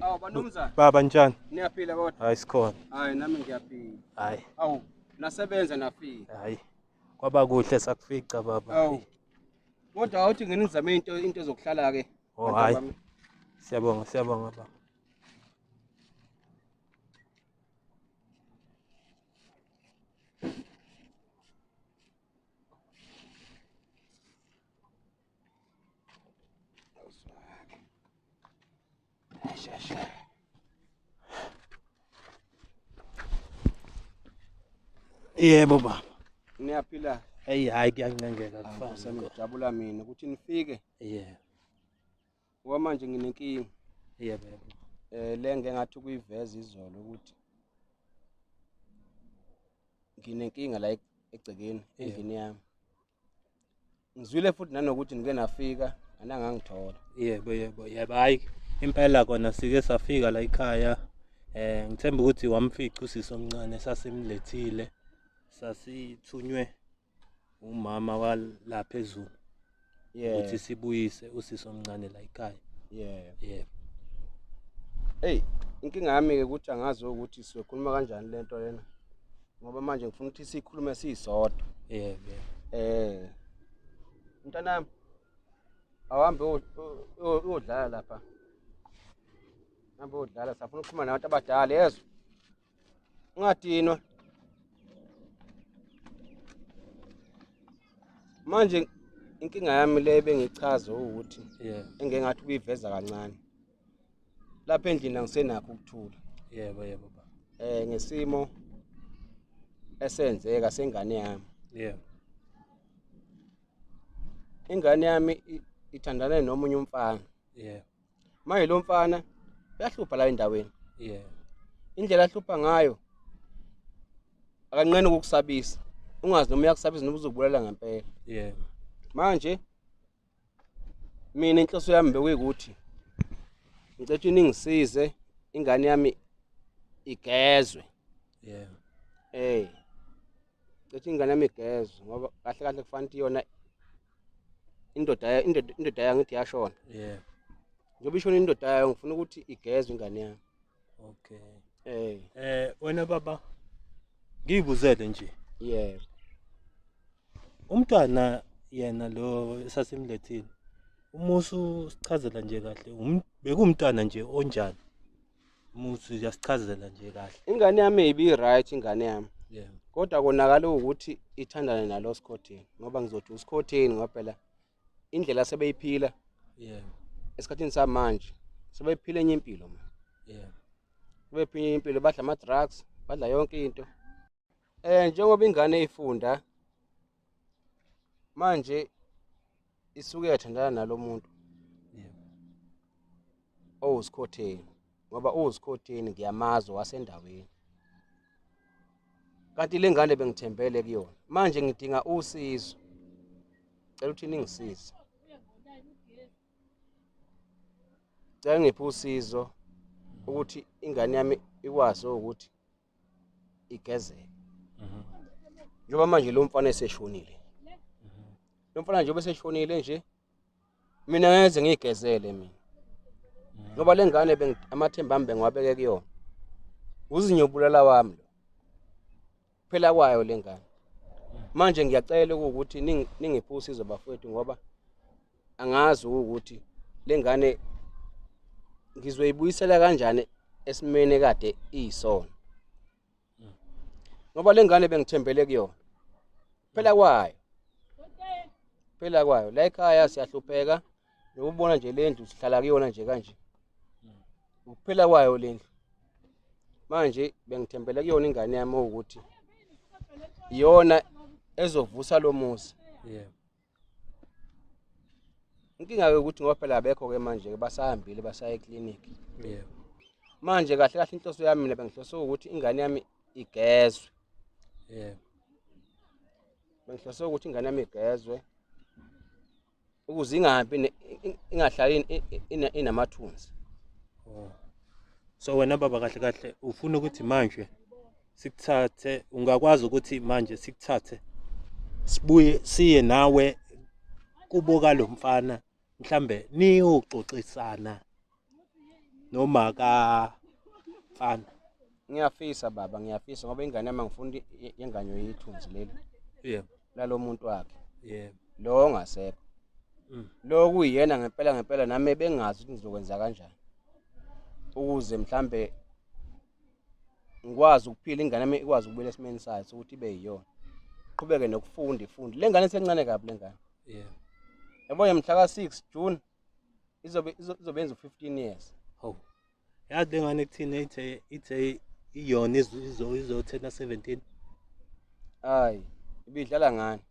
Awu banumzana. Baba njani? Niyaphila kodwa? Hayi sikhona. Hayi nami ngiyaphila. Hayi. Awu nasebenza nafika. Hayi. Kwaba kuhle sakufica baba. Awu. Kodwa awuthi nginizame into into zokuhlala ke. Oh hayi. Siyabonga siyabonga baba. Yebo baba. Niyaphila. Hey hayi kuyancengeka kufasa. Ngijabula mina ukuthi nifike. Yeah. ngoba manje nginenkinga yebo yebo eh le ngeke ngathi ukuyiveza izolo ukuthi nginenkinga la egcekeni endlini yami ngizwile futhi nanokuthi ngike nafika anangangithola yebo yebo yebo hayi impela kona sike safika la ekhaya eh ngithemba ukuthi wamfica usisi omncane sasimlethile sasithunywe umama wala phezulu yeah ukuthi sibuyise usisi omncane la ekhaya yeah yeah hey inkinga yami ke ukuthi angazi ukuthi sizokhuluma kanjani lento lena ngoba manje ngifuna ukuthi sikhulume sisodwa yeah yeah eh mntanami awuhambe uyodlala lapha hambe uyodlala safuna ukukhuluma nabantu abadala yezwa ungadinwa manje inkinga yami le bengichaze ukuthi yeah engeke ngathi kuyiveza kancane lapha endlini angisenakho ukuthula yebo yebo baba eh ngesimo esenzeka sengane yami yebo ingane yami ithandane nomunye umfana yebo manje lo mfana uyahlupha la endaweni yeah indlela ahlupha ngayo akanqeni ukukusabisa ungazi noma uyakusabisa noma uzokubulala ngempela yeah manje mina inhloso yami bekuyikuthi ngicethe ningisize ingane yami igezwe yeah eh cishe ingane yami igezwe ngoba kahle kahle kufanele ukuthi yona indoda ya- indoda indoda yayo ngithi yashona yeah njengoba ishona indoda yayo ngifuna ukuthi igezwe ingane yami okay eh eh wena baba ngiyibuzele nje yebo umntwana yena lo esasimlethile umusu sichazela nje kahle um- bekumntwana nje onjani muthi uyasichazela nje kahle ingane yami ibi right ingane yami yeah kodwa konakala ukuthi ithandane nalo skhotheni ngoba ngizothi uskhotheni ngoba phela indlela sebeyiphila yeah esikhathini samanje sebephila enye impilo ma yeah sebephila enye impilo badla ama drugs badla yonke into eh njengoba ingane ifunda manje isuke yathandana nalo muntu owusikhotheni ngoba uwusikhotheni ngiyamazi wasendaweni kanti le ngane bengithembele kuyona manje ngidinga usizo cela ukuthi ningisize cela ngiphe usizo ukuthi ingane yami ikwazi ukuthi igezeke mhm. njengoba manje lo mfana eseshonile mhm. lo mfana njengoba eseshonile nje mina ngeze ngiyigezele mina mhm. ngoba le ngane amathemba ami bengiwabeke kuyona uzinyobulala wami lo phela kwayo le ngane manje ngiyacela ukuthi ningiphe usizo bafowethu ngoba angazi ukuthi lengane ngizoyibuyisela kanjani esimene kade iyisona ngoba lengane bengithembele kuyona phela kwayo phela kwayo la ekhaya siyahlupheka nokubona nje lendlu sihlala kuyona nje kanje ukuphela kwayo lendlu manje bengithembele kuyona ingane yami ukuthi iyona ezovusa lo muzi yebo inkinga-ke ukuthi ngoba phela abekho-ke manje-ke basahambile basaya eklinikhi yebo manje kahle kahle inhloso yami mina bengihlose ukuthi ingane yami igezwe yebo bengihlose ukuthi ingane yami igezwe ukuze ingahambi ne- in- ingahlali in- in- ina- inamathunzi so wena baba kahle kahle ufuna ukuthi manje sikuthathe ungakwazi ukuthi manje sikuthathe sibuye siye nawe kubo kalomfana mhlambe niyoxoxisana noma ka mfana ngiyafisa baba ngiyafisa ngoba ingane yami ngifuna ingane yethunzi leli yebo lalo muntu wakhe yebo lo ongasekho mm. lo kuyena ngempela ngempela nami bengazi ukuthi ngizokwenza kanjani ukuze mhlambe ngikwazi ukuphila ingane yami ikwazi ukubuyela esimeni sayo sokuthi ibe yiyona qhubeke nokufunda ifunde le ngane sencane kabi le ngane yeah yabo yamhla ka 6 June izobe izobenza 15 years oh yazi le ngane kuthina ithe ithe iyona izo izothena 17 hayi ibidlala ngani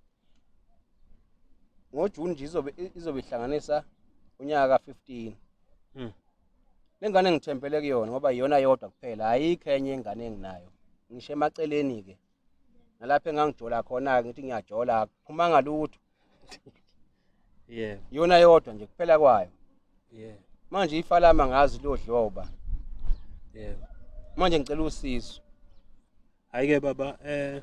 ngojuni nje izobe izobe ihlanganisa unyaka ka 15 hmm. Le ngane ngithembele kuyona ngoba iyona yodwa kuphela ayikho enye ingane enginayo ngisho emaceleni-ke nalapho engangijola khona-ke ngithi ngiyajola akuphumanga lutho yeah. iyona yodwa nje kuphela kwayo yeah. manje ifalama ngazi lodloba yeah. manje ngicela usizo hhayi-ke baba um eh,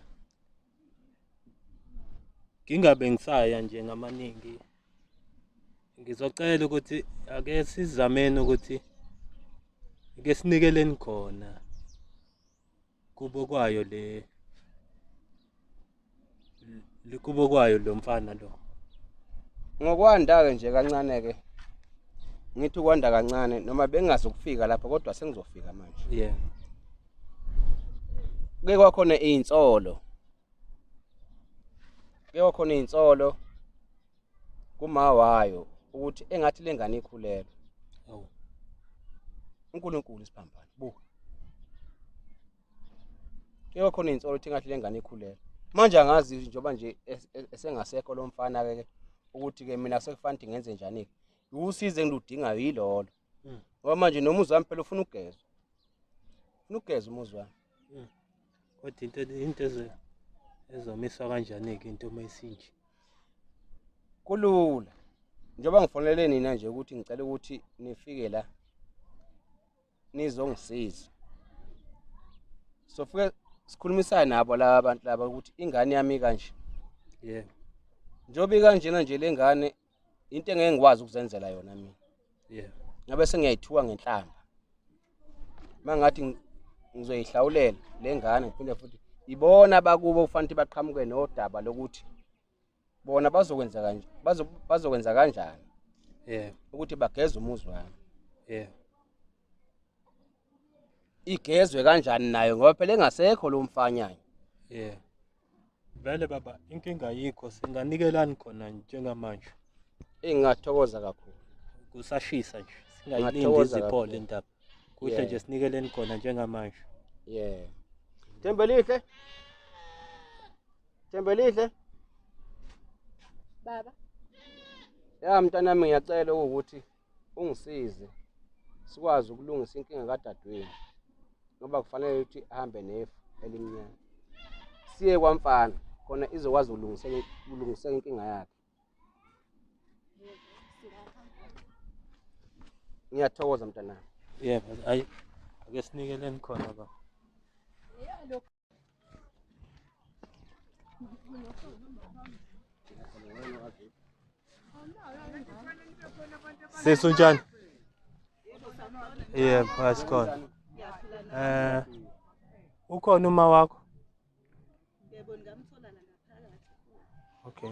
ngingabe ngisaya nje ngamaningi ngizocela ukuthi ake sizameni ukuthi ke sinikeleni khona kubo kwayo le likubo kwayo lo mfana lo ngokwanda-ke nje kancane-ke ngithi ukwanda kancane noma bengazi ukufika lapha kodwa sengizofika manje yeah kuke kwakhona iy'nsolo kuke kwakhona iy'nsolo kuma wayo ukuthi engathi le ngane ikhulelwe oh. unkulunkulu isiphambano buka kuke kwakhona iy'nsolo ukuthi engathi le ngane ikhulelwe manje angazi njengoba nje esengasekho lo mfana-ke ukuthi-ke mina sekufanele ukuthi ngenze njani-ke usizo engiludingayo yilolo Mm. Ngoba manje noma uzami phela ufuna ugezwa. Ufuna ugeza umuzi wami. Mm. Kodwa into into ezo ezomiswa kanjani ke into uma isinje? Kulula. Njengoba ngifonele nina nje ukuthi ngicela ukuthi nifike la nizongisiza. Sofike sikhulumisana nabo laba bantu laba ukuthi ingane yami kanje. Yebo. Yeah. Njengoba ikanjena nje lengane into engeke ngikwazi ukuzenzela yona mina yeah ngabe sengiyayithuka ngenhlamba mangathi ngizoyihlawulela lengane ngiphinde futhi ibona bakubo kufanele baqhamuke nodaba lokuthi bona bazokwenza kanje bazokwenza kanjani yeah ukuthi bageza umuzi wami yeah igezwe kanjani nayo ngoba phela engasekho lo mfanyana yeah vele baba inkinga yikho singanikelani khona njengamanje engingathokoza kakhulu kusashisa nje singayilindi iziphole indaba kuhle nje sinikeleni khona njengamanje yeah Thembelihle Thembelihle Baba Ya mntanami ngiyacela ukuthi ungisize sikwazi ukulungisa inkinga kadadewenu ngoba kufanele ukuthi ahambe nefu elimnyama siye kwamfana khona izokwazi ukulungiseka inkinga yakhe ngiyathokoza mntanami yebo ayi ake sinikeleni khona baba Sesi unjani? Yebo, asikhona. Eh ukhona uma wakho? Yebo, ngamthola la ngaphakathi. Okay.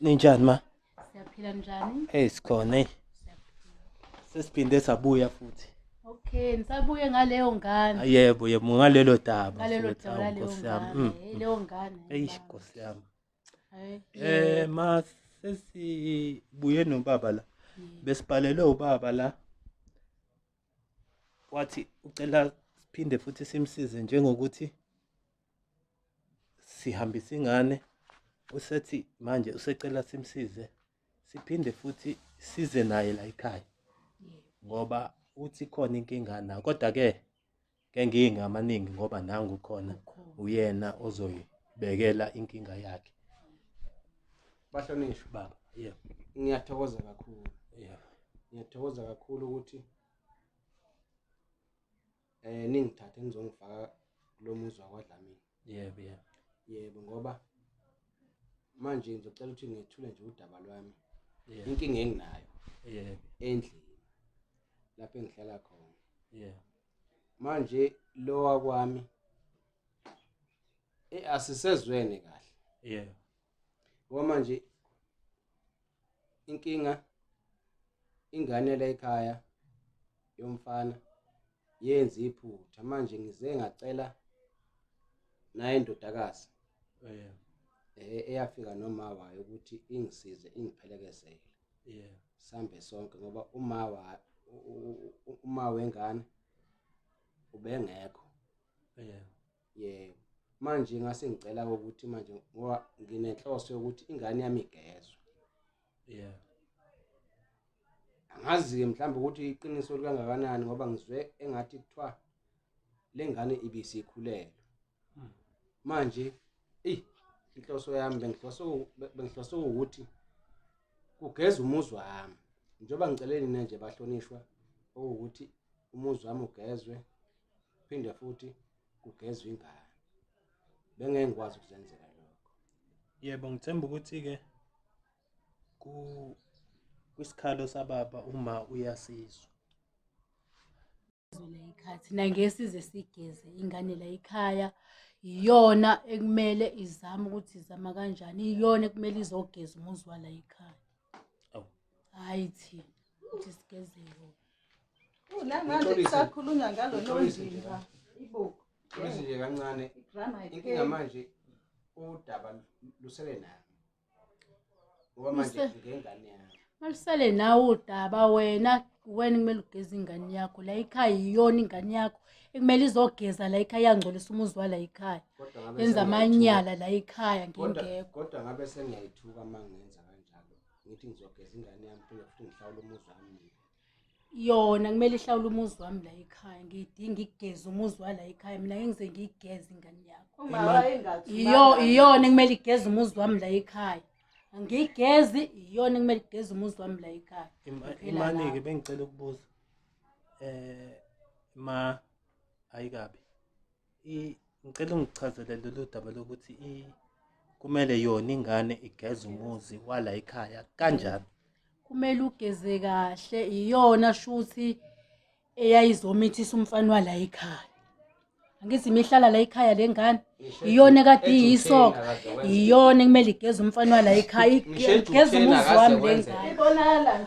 Ninjani ma? Siyaphila njani? Hey sikhona hey. Sesiphinde sabuya futhi. Okay, nisabuye ngaleyo ngane. Yebo, yebo ngalelo daba. Ngalelo daba laleyo ngane. Mm. Leyo ngane. Hey Nkosi yami. Eh ma sesibuye nobaba la. Besibhalelwe ubaba la. Wathi ucela siphinde futhi simsize njengokuthi sihambisa ingane usethi manje usecela simsize siphinde futhi size naye la ekhaya ngoba uthi khona inkinga na kodwa ke kenkinga amaningi ngoba nangu khona uyena ozoyibekela inkinga yakhe bahlonishwe baba yeah ngiyathokoza kakhulu yeah ngiyathokoza kakhulu ukuthi eh ningithathe nizongifaka kulo muzi wakwadlamini yebo yeah, yeah. yebo ngoba manje ngizocela ukuthi ngethule nje udaba lwami yeah. inkinga enginayo yeah. endlini lapho engihlala khona yeah. manje lowa kwami eh asisezwene kahle yeah ngoba manje inkinga ingane la ekhaya yomfana yenza iphutha manje ngize ngacela naye indodakazi eh, eh eyafika noma wayo ukuthi ingisize ingiphelekesele yeah sambe sonke ngoba uma wa uma wengane ubengekho yeah yebo manje ngase ngicela ukuthi manje ngoba nginenhloso yokuthi ingane yami igezwe yeah angazi ke mhlawumbe ukuthi iqiniso likangakanani ngoba ngizwe engathi kuthiwa lengane ibisikhulelwe hmm. manje eyi inhloso yami bengihlose ukuthi kugeza umuzi wami njengoba ngicele nina nje bahlonishwa okuwukuthi umuzi wami ugezwe phinde futhi kugezwe ingane bengeke ngikwazi ukuzenzela lokho yebo ngithemba ukuthi-ke kwisikhalo sababa uma uyasizwa ezwela ikhathi nangesize sigeze ingane la ikhaya iyona ekumele izame ukuthi izama kanjani iyona ekumele izogeza umuzi wala ikhaya hayi thina ukuthi sigeze yona namanje kusakhulunywa ngalo nondimba ibuku nje kancane inkinga manje udaba lusele nayo ngoba manje Use- ngengane yami Malisale nawe udaba wena wena kumele ugeze ingane yakho la ikhaya iyona ingane yakho ekumele izogeza la ikhaya yangcolisa umuzi wala ikhaya kodwa ngabe yenza sengiyayithuka. amanyala la ikhaya Kodwa- ngingekho kodwa ngabe sengiyayithuka uma ngenza kanjalo ngithi ngizogeza ingane yami phinde futhi ngihlawule umuzi wami mina. yona kumele ihlawule umuzi wami la ekhaya ngiyidinga igeze umuzi wala ekhaya mina ngengize ngiyigeze ingane yakho umama engathi iyo iyona kumele igeze umuzi wami la ekhaya ngiyigezi iyona kumele igeze umuzi wami la ekhaya imani ke bengicela ukubuza eh ma ayikabi ngicela ungichazele lolu daba lokuthi kumele yona ingane igeze umuzi wala ekhaya kanjani kumele ugeze kahle iyona shuthi eyayizomithisa umfana wala ekhaya angithi imihlala la ekhaya le ngane iyona kade iyisoka iyona kumele igeze umfana wala ekhaya igeze umuzi wami le ngane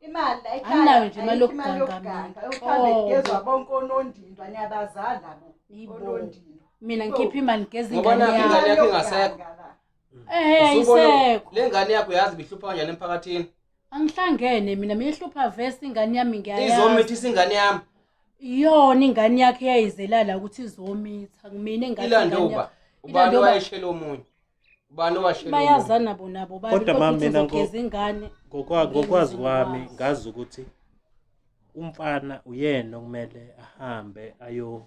Imali ayikhaya. Anginayo nje imali ayikho imali yokuganga mina. yokuganga. Uhambe Nhlobo. kugezwa bonke onondindwa niyabazala labo Yibo. onondindwa. mina ngikhipha imali ngigeza Ngoba ingane nakhu yami ingane yakho ingasekho. Yokuganga la. ehe Usubona- ayisekho le ngane yakho yazi ibihlupha kanjani emphakathini angihlangene mina mina ihlupha vesi ingane yami ngiyayazi izomithisa ingane yami iyona ingane yakhe eyayizelala ukuthi izomitha mina ingane ilande ingane uba yakhe. ubani Ilande uba. wayeshela omunye ubani owashela bayazana bona bo bani Kodwa mama, mina ngo- uzogeza ingane Ngokwa- ngokwazi kwami Ngokwazi. ngazi ukuthi umfana uyena okumele ahambe ayo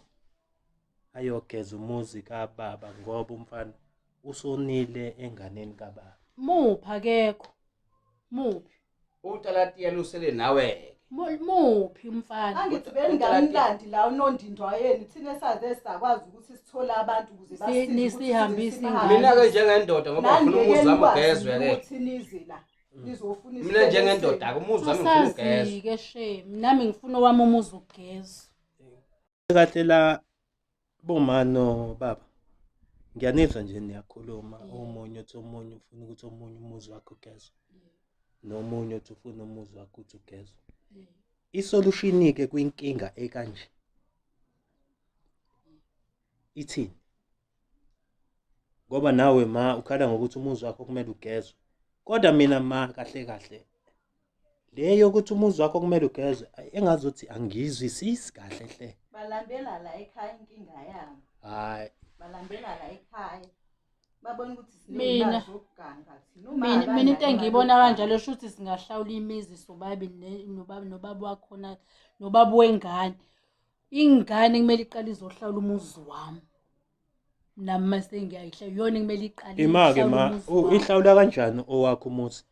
ayogeza umuzi kababa ngoba umfana usonile enganeni kababa muphi akekho muphi Utalatiya lusele nawe. Muphi umfana? Angithi bengamlandi la unondindwa wayeni thina saze sakwazi ukuthi sithole abantu ukuze basisize. Nisihambise ingane. Mina ke njengendoda ngoba ngifuna umuzi wami ugezwe ke. Ukuthi nize la. Mm. Ngizofuna isibonelo. Mina njengendoda ke umuzi wami ngifuna ugezwe. Asazike shame. Nami ngifuna owami umuzi ugezwe. kahle la bomano baba ngiyanizwa nje niyakhuluma omunye uthi omunye ufuna ukuthi omunye umuzi wakhe ugezwe nomunye uthi ufuna umuzi wakhe uthi ugezwe isolushini-ke kwinkinga ekanje ithini ngoba nawe ma ukhala ngokuthi umuzi wakho kumele ugezwe kodwa mina ma kahle kahle le yokuthi umuzi wakho kumele ugezwe engazothi angiyizwisisi kahle hle balambela la ekhaya inkinga yabo hayi balambela la ekhaya babona ukuthi mina mina mina into engiyibona kanjalo sho ukuthi singahlawula imizi sobabili nobaba nobaba wakhona nobaba wengane ingane kumele iqale izohlawula umuzi wami nami mase ngiyayihla yona kumele iqale imake ma ihlawula kanjani owakho umuzi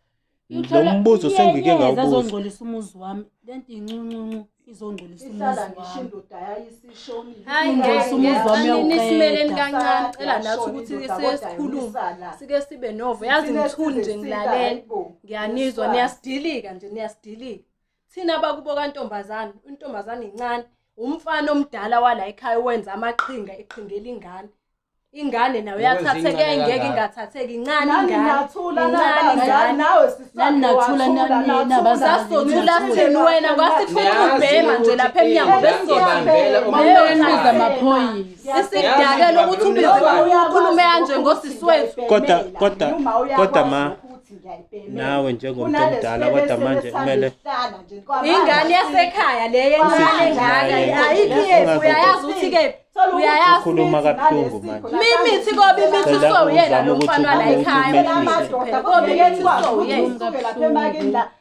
lo mbuzo sengike ngawubuza azongcolisa umuzi wami lento incuncuncu izongcolisa umuzi wami indoda yayisishoni hayi ngeke umuzi wami yawuqela kancane cela nathi ukuthi sesikhuluma sike sibe novo yazi ngithuni nje ngilalela ngiyanizwa niyasidilika nje niyasidilika thina abakubo kantombazane intombazane incane umfana omdala wala ekhaya owenza amaqhinga eqhingela ingane ingane nayo yathatheke engeke ingathatheki incane ingane thini wena kwasifuna ubhema nje lapha emnyango besoisidakela ukuthi ubize ukhulume kanje ngosisi wethu kodwa kodwa kodwa ma nawe njengomuntu omdala kodwa manje kumele ingane yasekhaya le yencane ngaka ayikho yephi uyayazi ukuthi kephi uyayazi ukhuluma kabuhlungu manje mimithi kobe imithi so uyena lo mfana la ekhaya kobe imithi so uyena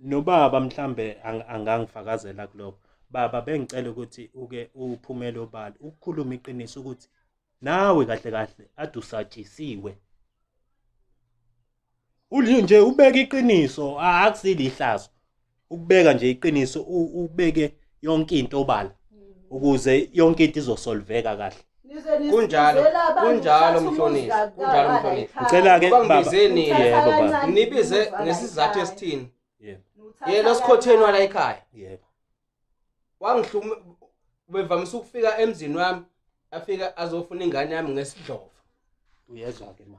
nobaba mhlambe angangifakazela kuloko baba bengicela ukuthi uke uphumele obala ukukhuluma iqiniso ukuthi nawe kahle kahle adusatshisiwe ulio nje ubeka iqiniso akusile ihlazo ukubeka nje iqiniso ubeke yonke into obala ukuze yonke into izosolveka kahle kunjalo kunjalo mhlonisi kunjalo mhlonisi ngicela ke baba ngibizeni yebo baba nibize ngesizathu esithini yebo yena osikhotheni wala ekhaya yebo wangihluma bevamise ukufika emzini wami afika azofuna ingane yami ngesidlova uyezwa ke ma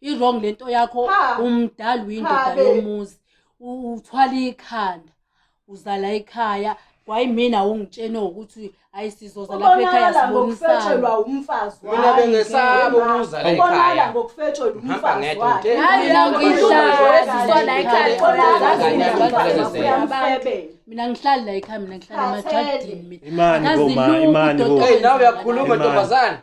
i-wrong le nto yakho umdala uyindoda yomuzi uthwala ikhanda uzala ekhaya wayimina ungitshene ukuthi ayi sizoza lapha ekhaya sibonisana umfazi mina bengesaba ukuzala ekhaya ngokufetshela umfazi wakhe hayi la ngihlala sizola ekhaya khona ngazini mina ngihlali la ekhaya mina ngihlala emajadini mina imani bo imani bo hey nawe uyakhuluma ntombazana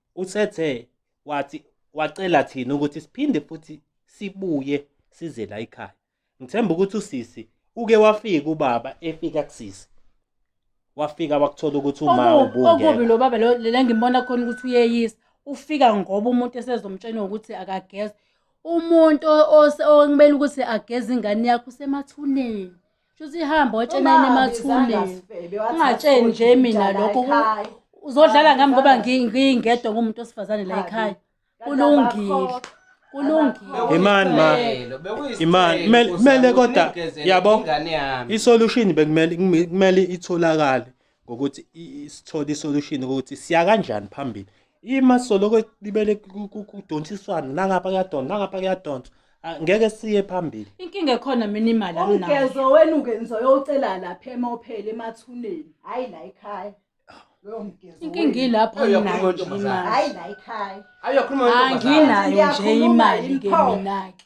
Usethe wathi wacela thina ukuthi siphinde futhi sibuye size la ekhaya. Ngithemba ukuthi usisi uke wafika ubaba efika kusisi. Wafika wakuthola ukuthi uma Okubi okubi ubungeke. lo baba lo le ngimbona khona ukuthi uyeyisa ufika ngoba umuntu esezomtshena ukuthi akageze umuntu ose- okumele ukuthi ageze ingane yakho usemathuneni Shuthi ihamba watshena yini emathuleni. Ungatsheni nje mina lokho uzodlala ngami ngoba ngingedwa ngumuntu osifazane la ekhaya. Kulungile. Kulungile. Imani ma. Imani kumele kodwa yabo. Isolution bekumele kumele itholakale. ngokuthi sithole isolution ukuthi siya kanjani phambili ima soloko libele kudonsiswana nangapha kuyadonsa nangapha kuyadonsa ah, ngeke siye phambili inkinga ekhona mina imali anginayo ugezo wena ungenzo yocela lapha emophele emathuneni hayi la ekhaya inkinga ilapho anginayo nje imali hayi la ekhaya anginayo nje imali ke mina-ke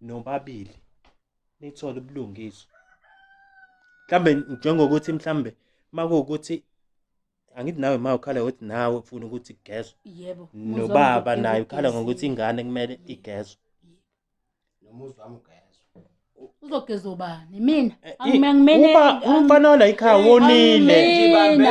nobabili nithole ubulungiswa mhlambe njengokuthi mhlambe makuwukuthi angithi nawe ma ukhala ukuthi nawe ufuna ukuthi igezwe yebo nobaba naye ukhala ngokuthi ingane kumele igezwe nomuzi wami ugezwe uzogeza ubani mina eh, angimene umfana wala ikhaya wonile angimene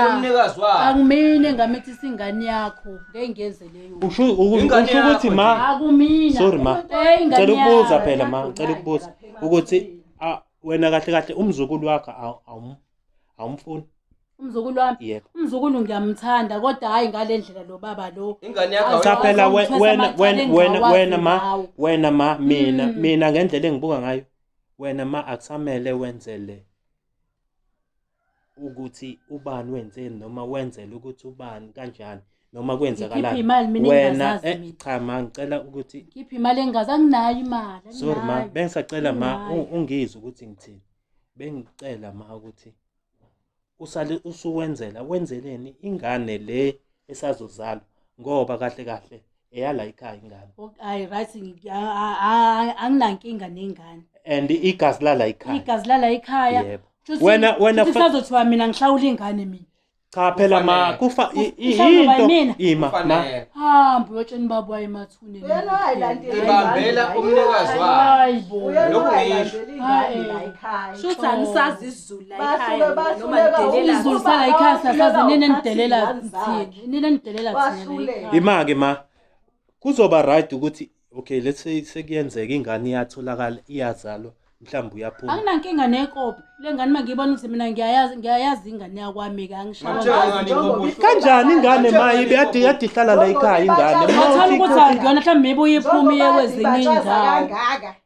angimene ngamethi singane yakho ngeke ngenze Usho uku- Ingane usho ukuthi yakho ma akumina Sorry, ma. Eh, ingane cela ukubuza yakho. phela ma cela ukubuza ukuthi ah, wena kahle kahle umzukulu wakho awu- awum- awumfuni umzukulu wami yebo umzukulu ngiyamthanda kodwa hhayi ngale ndlela lo baba lo ingane yakho cha Awu, phela awu, we- ngithwesa wena amacala wena engizawazi wena wena ma ngawo. wena ma mina Mm. mina ngendlela engibuka ngayo wena ma akusamele wenzele ukuthi ubani wenzeni noma wenzela ukuthi ubani kanjani noma kwenzakalani wena eh, cha ma ngicela ukuthi ngiphi imali engazi anginayo imali sorry ma bengisacela ma ungizwe ukuthi ngithini bengicela ma ukuthi usale usuwenzela wenzeleni ingane le esazozalwa ngoba kahle kahle eyala ikhaya ingane hayi right anginankinga nengane and igazi lala ikhaya igazi lala ikhaya wena wena kusazothiwa mina ngihlawula ingane mina cha phela ma kufa into ima ma hamba uyotsheni babo ayemathune ibambela umnikazi wayo lokhu ngisho hayi la ikhaya shuthi angisazi ima-ke ma kuzoba right ukuthi okay let's say sekuyenzeka ingane iyatholakala iyazalwa mhlawumbe uyaphuma anginankinga nekopi le ngane uma ngiyibona ukuthi mina ngiyayazi ngiyayazi ingane yakwami kanjani ingane ma ibe yade yade ihlala la ikhaya ingane mawuthi ukuthi akuyona mhlawumbe ibuye iphume iye kwezinye indawo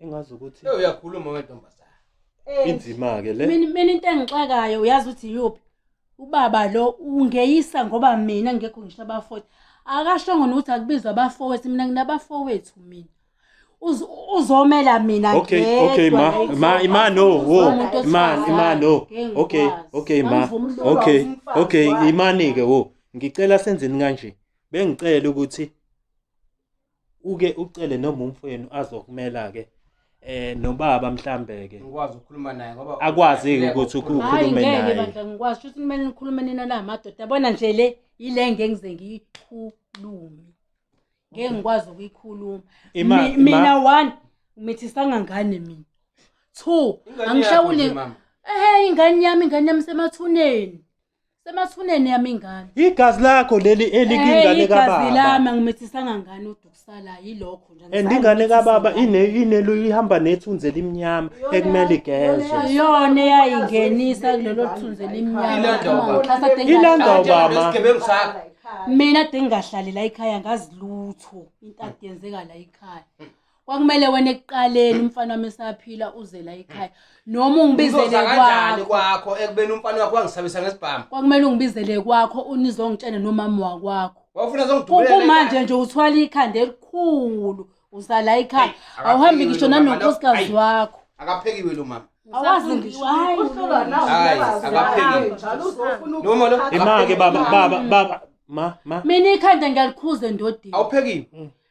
engazi ukuthi Eh uyakhuluma wentombazana. Eh, inzima ke le mina mina into engixakayo uyazi ukuthi yuphi ubaba lo ungeyisa ngoba mina ngekho ngisho abafowethu akashongo nokuthi akubizwa abafowethu mina nginabafowethu mina Uzo- uzomela mina okay ngedwa okay ma ngizomela ma ima no wo umuntu ima wesifazane. ima no Ngeke okay ngikwazi. okay ma Angivumi ukuba okay umfazi okay wakhe. imani ke wo ngicela senzeni kanje bengicela ukuthi uke ucele noma umfowenu azokumela ke eh nobaba mhlambe ke ngikwazi ukukhuluma naye ngoba akwazi ukuthi ukhulume naye ngeke bandla ngikwazi ukuthi kumele nikhulume nina la madoda yabona nje le ile ngengize ngiyikhulume ngeke ngikwazi ukuyikhuluma mina one mithi sangangane mina two angishawuli ehe ingane yami ingane yami semathuneni semathuneni yami ingane igazi lakho leli elikingane Eh, igazi lami kababa angimithisanga ngane udukusala yilokho nje and angisayi ingane kumithisa kababa ngane. ine- inelo ihamba nethunzi elimnyama ekumele igezwe iyona eyayingenisa kulelo thunzi elimnyama Ilanda Uma ubaba. ngithatha ade Ilanda ngingahlali- ubaba. Njengoba isigebengu sakho. mina ade ngingahlali la ekhaya ngazi lutho into ade yenzeka la ekhaya kwakumele wena ekuqaleni umfana wami esaphila uzela ekhaya noma ungibizele Uzoza kanjani kwakho kwakho ekubeni umfana wakho wangisabisa ngesibhamu kwakumele ungibizele kwakho unizongitshene nomama wakwakho wawufuna Ku- zongidubulela kumanje nje uthwala ikhanda elikhulu usala ekhaya Hey, awuhambi akaphekiwe ngisho lo mama, nanonkosikazi lo- wakho akaphekiwe lo mama awazi ngisho hayi Uhlolwa nawe Hayi, uyabazi. akaphekiwe. Hayi, njalo uzofuna Noma lo- ukuphatha. imake baba baba baba ma ma mina ikhanda ngiyalikhuza endodeni awuphekiwe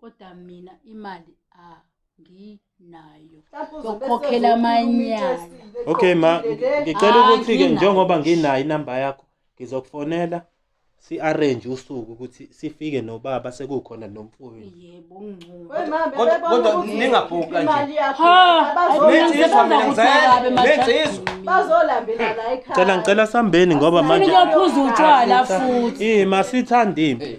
kodwa mina imali anginayo yokukhokhela amanyala okay ma ngicela ah, ukuthi ke njengoba nginayo inamba yakho ngizokufonela si-arrange usuku ukuthi sifike nobaba sekukhona nomfowenu yebo kodwa ningabhuka nje ngicela ngicela sambeni ngoba manje ngiyaphuza utshwala futhi masithanda impi